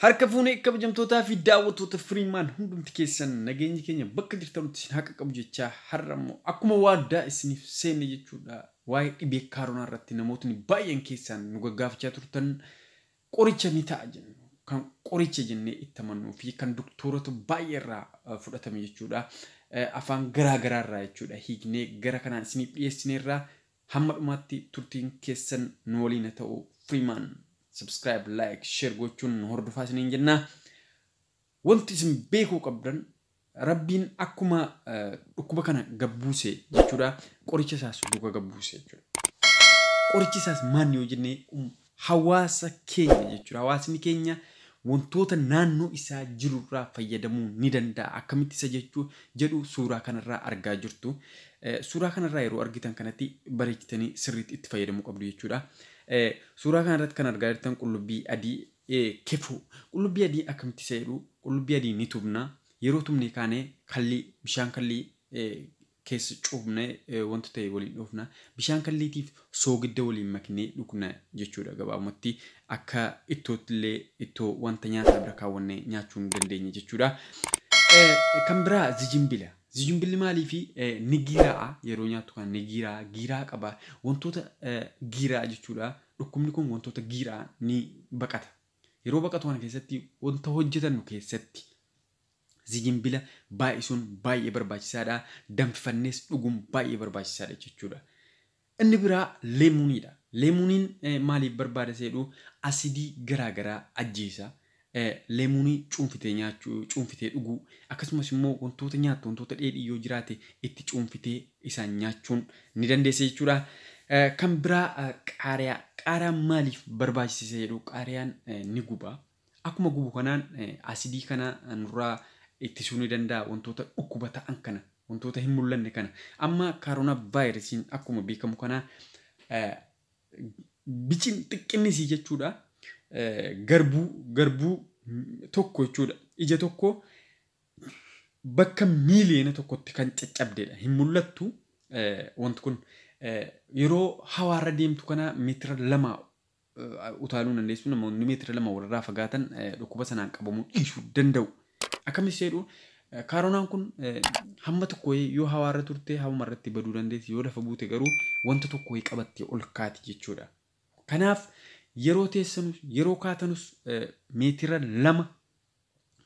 Harka fuunee kabajamtootaa fi daawwattoota Firiimaan hundumti keessan nageenyi keenya bakka jirtanutti isin haqa qabu jechaa har'a immoo akkuma waadaa isiniif seenne jechuudha waa'ee dhibee kaaronaa irratti namootni baay'een keessaan nu gaggaafachaa turtan Qoricha ni ta'a jennu, kan qoricha jennee itti amannuu fi kan doktoorota baay'ee irraa fudhatame jechuudha. Afaan garaa garaa irraa jechuudha hiiknee gara kanaan isiniif dhiyeessineerra. Hamma dhumaatti turtiin keessan nu waliin haa ta'u. Freeman subscribe, like, share gochuun nu hordofaa isiniin jenna. Wanti isin beekuu qabdan Rabbiin akkuma dhukkuba kana gad buuse jechuudha qoricha isaas duuka gad buuse jechuudha. Qorichi isaas maanni yoo jenne um, hawaasa keenya jechuudha. Hawaasni keenya wantoota naannoo isaa jirurraa fayyadamuu ni danda'a. Akkamitti isa jechuu jedhu suuraa kanarraa argaa jirtu. Eh, Suuraa kanarraa yeroo argitan kanatti bareechitanii sirriitti itti fayyadamuu qabdu jechuudha. Eh, Suuraa kanarratti kan argaa jirtan qullubbii adii kefuu qullubbii adii akkamitti isa jedhuu qullubbii adii ni tubnaa yeroo tubnee kaanee kallii bishaan kallii keessa cuubnee wanta ta'e waliin dhoofna bishaan kalliitiif soogidda waliin maknee dhugna jechuudha gabaabumatti akka ittootti illee ittoo wanta nyaataa bira kaawwannee nyaachuu ni dandeenya jechuudha. Kan biraa zijimbila zijimbilli maalii fi ni giiraa'a yeroo nyaattu kan ni giiraa'a giiraa qaba wantoota giiraa jechuudha Dhukkubni kun wantoota giiraa ni baqata. Yeroo baqatu kana keessatti wanta hojjetannu keessatti zijinbila baay'isuun baay'ee barbaachisaadha. Danfifannees dhuguun baay'ee barbaachisaadha jechuudha. Inni biraa leemuuniidha. Leemuuniin maaliif barbaada seedhu asidii garaa garaa ajjeesa. Leemonii cuunfitee nyaachuu, cuunfitee dhuguu, akkasumas immoo wantoota nyaattu, wantoota dheedhii yoo jiraate itti cuunfitee isaan nyaachuun ni dandeessa jechuudha. Kan biraa qaariyaa. Qaariyaan maaliif barbaachise isa jedhu qaariyaan ni guba. Akkuma gubu kanaan asidii kana nurraa ittisuu ni danda'a wantoota dhukkuba ta'an kana wantoota hin mul'anne kana. Amma kaaroonaa vaayirasiin akkuma beekamu kana Bicin xiqqinni isii jechuudha garbuu garbuu tokko jechuudha. Ija tokko bakka miiliyoona tokkotti kan caccabdeedha. Hin mul'attu wanti kun yeroo hawaarra deemtu kana meetira lama utaaluu dandeessu. Namoonni meetira lama walirraa fagaatan dhukkuba sanaan qabamuu dhiisuu danda'u. Akkamitti seedhu? Kaaronaan kun hamma tokko wayii yoo hawaa irra turte hamuma irratti baduu dandeessi yoo lafa buute garuu wanta tokko wayii qabattee ol kaati jechuudha. Kanaaf yeroo teessanus yeroo kaatanus meetira lama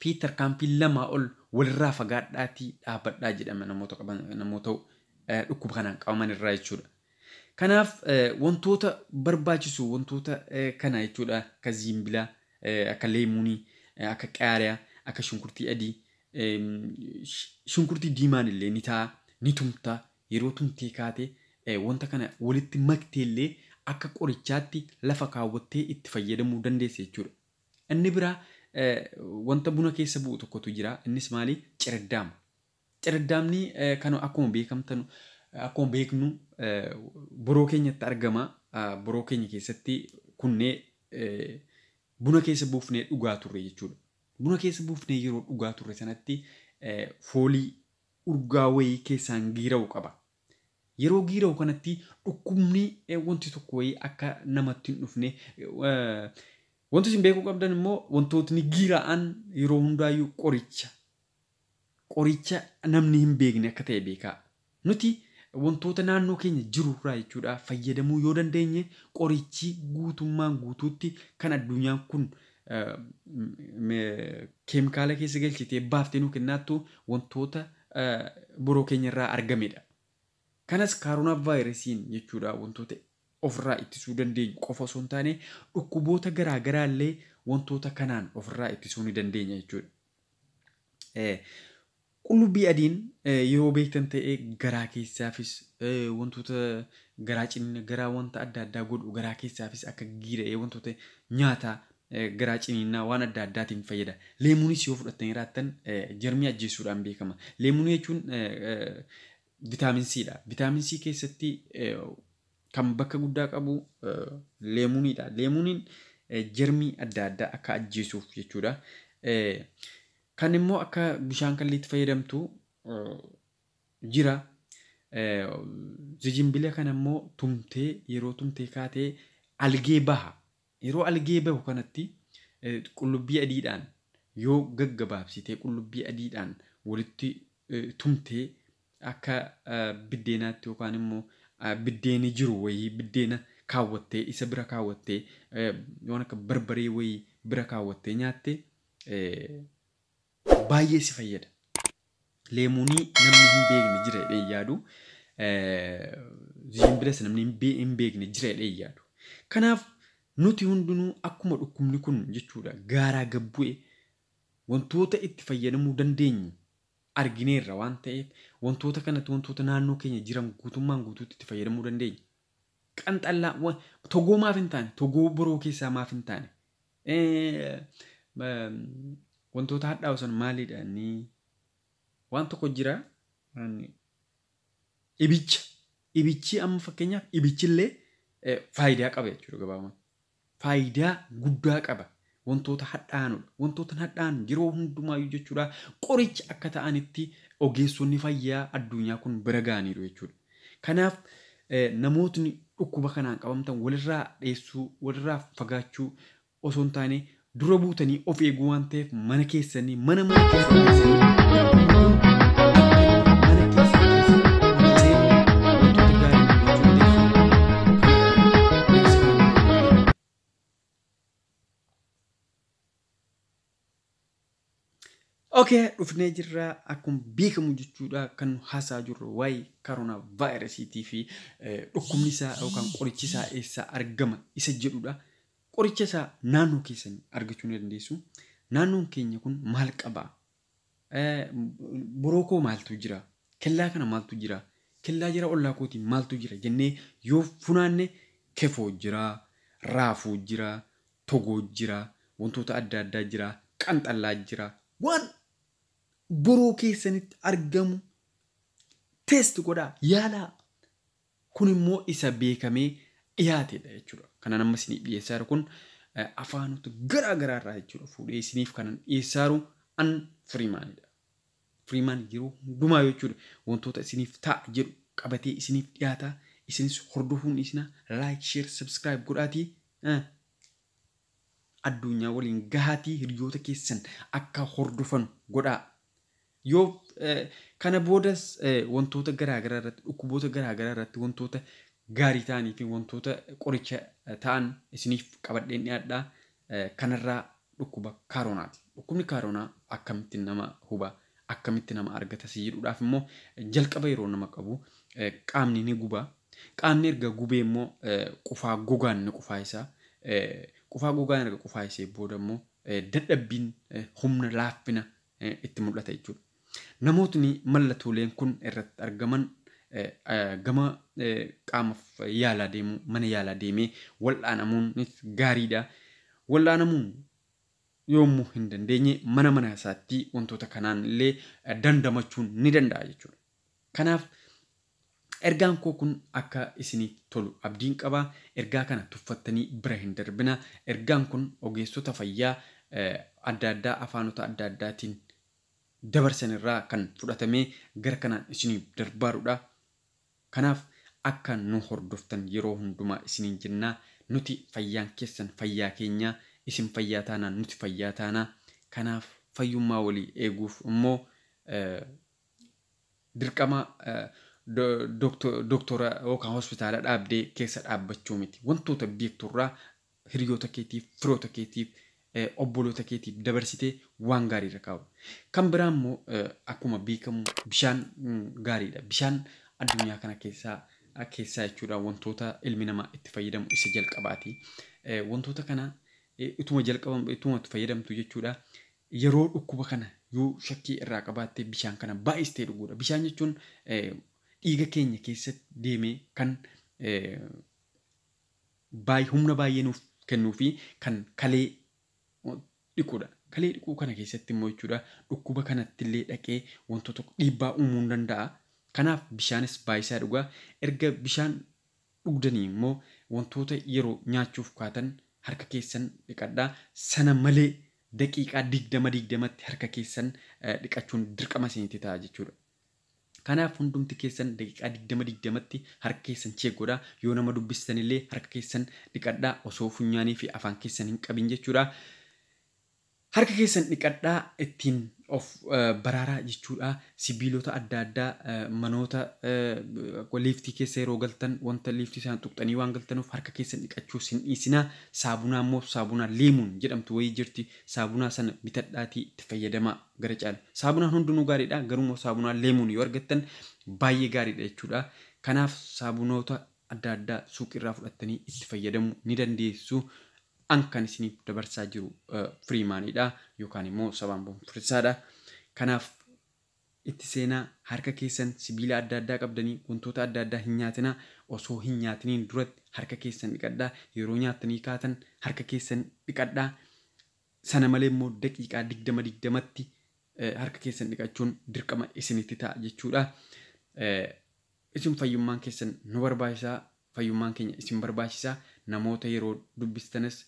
fi tarkaanfii lamaa ol walirraa fagaadhaatii dhaabadhaa jedhama namoota qaban namoota dhukkuba kanaan qabaman irraa jechuudha. Kanaaf wantoota barbaachisu wantoota kana jechuudha akka ziimbila akka leemuunii akka qaariya akka shunkurtii adii shunkurtii diimaan illee ni ta'a ni tumta yeroo tumtee kaate wanta kana walitti maktee illee akka qorichaatti lafa kaawwattee itti fayyadamuu dandeessa jechuudha. Inni biraa wanta buna keessa bu'u tokkotu jira innis maali ciraddaama. Cerddaamni kanu akkuma beekamtanu akkuma beeknu boroo keenyatti argama. Boroo keenya keessatti kunnee buna keessa buufnee dhugaa turre jechuudha. Buna keessa buufnee yeroo dhugaa turre sanatti foolii urgaa wayii keessaan giira'u qaba. Yeroo giira'u kanatti dhukkubni wanti tokko wayii akka namatti hin dhufne wanti isin beekuu qabdan immoo wantootni giira'an yeroo hundaayyuu qoricha Qoricha namni hin beekne akka ta'e beekaa. Nuti wantoota naannoo keenya jiru irraa jechuudha fayyadamuu yoo dandeenye qorichi guutummaan guutuutti kan addunyaan kun keemikaala keessa galchitee baaftee nu kennaattu wantoota biroo keenya irraa argamedha. Kanas kaaroonaa vaayirasiin jechuudha wantoota ofirraa ittisuu dandeenyu qofa osoo hin taane dhukkuboota garaa garaa illee wantoota kanaan ofirraa ittisuu ni dandeenya jechuudha. Qullubbii adiin yeroo beektan ta'ee garaa keessaafis wantoota garaa cimina garaa wanta adda addaa godhu garaa keessaafis akka giira'ee wantoota nyaata garaa ciniinnaa waan adda addaatiin fayyada. Leemuunis yoo fudhattanii raattan jarmii ajjeessuudhaan beekama. Leemuunii jechuun vitaamin C dha. Vitaamin C keessatti Kan bakka guddaa qabu leemuuniidha. Leemuuniin jermii adda addaa akka ajjeesuuf jechuudha. Kan immoo akka bishaan kalliitti fayyadamtu jira. Zijinbila kana immoo tumtee yeroo tumtee kaatee algee baha. Yeroo algee bahu kanatti qullubbii adiidhaan yoo gaggabaabsitee qullubbii adiidhaan walitti tumtee akka biddeenaatti yookaan immoo biddeeni jiru wayii biddeena kaawwattee isa bira kaawwattee waan akka barbaree wayii bira kaawwattee nyaatte Baay'ee si fayyada. Leemuunii namni hin beekne jira jedhee hin yaadu. Ziimbilas namni hin beekne jira jedhee hin yaadu. Kanaaf nuti hundinuu akkuma dhukkubni kun jechuudha gaaraa gad bu'e wantoota itti fayyadamuu dandeenyu argineerra waan ta'eef wantoota kanatti wantoota naannoo keenya jiran guutummaan guutuutti itti fayyadamuu dandeenya. Qanxallaa togoo maaf hin taane togoo boroo keessaa maaf hin taane Wantoota hadhaa'u san maalidha inni? Waan tokko jira ibicha. Ibichi amma fakkeenyaaf ibichillee faayidaa qaba jechuudha gabaabumatti. Faayidaa guddaa qaba. Wantoota hadhaa'anudha. Wantoota hadhaa'an yeroo hundumaayyuu jechuudha qoricha akka ta'anitti ogeessonni fayyaa addunyaa kun bira ga'aniiru jechuudha. Kanaaf namootni dhukkuba kanaan qabamtan walirraa dheessuu, walirraa fagaachuu osoo hin taane dura buutanii of eeguu waan ta'eef mana keessanii mana mana keessa keessanii Okay, dhufnee jirra akkuma beekamu jechuudha kan nu haasaa jirru waa'ee karoonaa vaayirasiitii fi eh, dhukkubni isaa yookaan qorichi isaa eessaa argama isa jedhudha. Qoricha isaa naannoo keessan argachuu ni dandeessu. Naannoon keenya kun maal qaba? Bro koo maaltu jira? Kellaa kana maaltu jira? Kellaa jara ollaa kootii maaltu jira? jennee yoo funaanne kefoo jira, raafuu jira, togoo jira, wantoota adda addaa jira, qanxallaa jira. Waan boroo keessanitti argamu test godhaa yaalaa. Kun immoo isa beekamee dhiyaatedha jechuudha. Kanan amma isiniif dhiyeessaa jiru kun afaanota garaa garaa irraa jechuudha fuudhee isiniif kanan dhiyeessaa jiru an Firiimaanidha. Firiimaan yeroo hundumaa jechuudha wantoota isiniif ta'a jedhu qabatee isiniif dhiyaata. Isinis hordofuun dhiisina like, share, subscribe godhaatii addunyaa waliin gahaatii hiriyoota keessan akka hordofanu godhaa. Yoo kana boodas wantoota garaa garaa irratti dhukkuboota garaa garaa irratti wantoota gaarii ta'anii fi wantoota qoricha ta'an isiniif qabadheen dhiyaadha. Kanarraa dhukkuba kaaronaati. Dhukkubni kaaronaa akkamitti nama huba akkamitti nama argata si jedhuudhaaf immoo jalqaba yeroo nama qabu qaamni ni guba. Qaamni erga gubee immoo qufaa gogaan ni qufaayisa. Qufaa gogaan erga qufaayisee booda immoo dadhabbiin humna laaffina itti mul'ata jechuudha. Namootni mallatooleen kun irratti argaman gama qaamaf yaalaa deemuu mana yaalaa deemee wal'aanamuunis gaariidha. Wal'aanamuu yoommoo hin dandeenye mana mana isaatti wantoota kanaan illee dandamachuun ni danda'a jechuudha. Kanaaf Ergaan koo kun akka isinii tolu abdiin qaba. Ergaa kana tuffattanii bira hin darbinaa. Ergaan kun ogeessota fayyaa adda addaa afaanota adda addaatiin dabarsan irraa kan fudhatamee gara kanaan isiniif darbaaruudha. Kanaaf akka nu hordoftan yeroo hundumaa isiniin jennaa. Nuti fayyaan keessan fayyaa keenyaa. Isin fayyaa taanaan nuti fayyaa taanaa. Kanaaf fayyummaa walii eeguuf immoo Dirqama doktora yookaan hospitaala dhaabdee keessa dhaabbachuu miti. Wantoota beektu irraa hiriyoota keetiif, firoota keetiif, obboloota keetiif dabarsitee waan gaarii irra kaa'u. Kan biraa immoo akkuma beekamu bishaan gaariidha. Bishaan addunyaa kana keessaa keessaa jechuudha wantoota ilmi namaa itti fayyadamu isa jalqabaati. Wantoota kana utuma jalqabamu utuma itti fayyadamtu jechuudha Yeroo dhukkuba kana yoo shakkii irraa qabaatte bishaan kana baay'istee dhuguudha. Bishaan jechuun dhiiga keenya keessa deemee kan baay- humna baay'ee nuuf kennuu fi kan kalee dhiquudha. Kalee dhiquu kana keessatti immoo jechuudha dhukkuba kanatti illee dhaqee wantoota dhiibbaa uumuu ni danda'a. Kanaaf bishaanis baay'isaa dhugaa. Erga bishaan dhugdanii immoo wantoota yeroo nyaachuuf kaatan harka keessan dhiqadhaa. Sana malee daqiiqaa digdama digdamatti harka keessan dhiqachuun dirqama isinitti ta'a jechuudha. Kanaaf hundumti keessan daqiiqaa digdama digdamatti harka keessan cheek godhaa. Yoo nama dubbistan illee harka keessan dhiqadhaa osoo funyaanii fi afaan keessan hin qabin jechuudha. Harka keessan dhiqadhaa ittiin of baraaraa jechuudha. Sibiilota adda addaa manoota liiftii keessa yeroo galtan wanta liiftii sana tuqxanii waan galtanuuf harka keessan dhiqachuu sin dhiisinaa. Saabunaa immoo saabunaa leemuun jedhamtu wayii jirti. Saabunaa sana bitadhaatii itti fayyadamaa gara caalu. Saabunaan hundinuu gaariidha garuu immoo saabunaa leemuun yoo argattan baay'ee gaariidha jechuudha. Kanaaf saabunoota adda addaa suuqiirraa fudhattanii itti fayyadamuu ni dandeessu. An kan isiniif dabarsaa jiru Freeman dha yookaan immoo Sabaan Bonfursaa dha. Kanaaf itti seenaa, harka keessan sibiila adda addaa qabdanii wantoota adda addaa hin nyaatinaa, osoo hin nyaatiniin duratti harka keessan dhiqadhaa, yeroo nyaattanii kaatan harka keessan dhiqadhaa, sana malee immoo daqiiqaa digdama digdamatti harka keessan dhiqachuun dirqama isinitti ta'a jechuudha. Isin fayyummaan keessan nu barbaachisa, fayyummaan keenya isin barbaachisa, namoota yeroo dubbistanis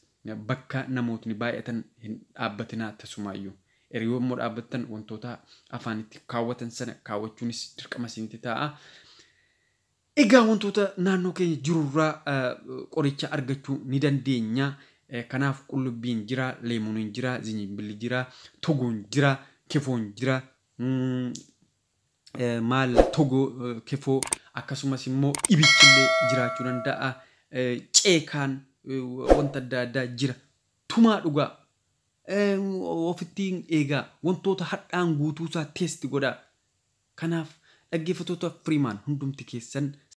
bakka namootni baay'atan hin dhaabbatinaa tasumaayyuu. Erga yommuu dhaabbattan wantoota afaanitti kaawwatan sana kaawwachuunis dirqama isinitti ta'a. Egaa wantoota naannoo keenya jirurraa qoricha argachuu ni dandeenya. Kanaaf qullubbiin jira, leemuuniin jira, zinjimbilli jira, togoon jira, kefoon jira, maal togo kefoo akkasumas immoo ibichillee jiraachuu danda'a ceekaan wanta adda addaa jira tumaa dhugaa ofittiin eegaa wantoota hadhaan guutuusaa teesti godhaa kanaaf dhaggeeffattoota firiimaan hundumti keessan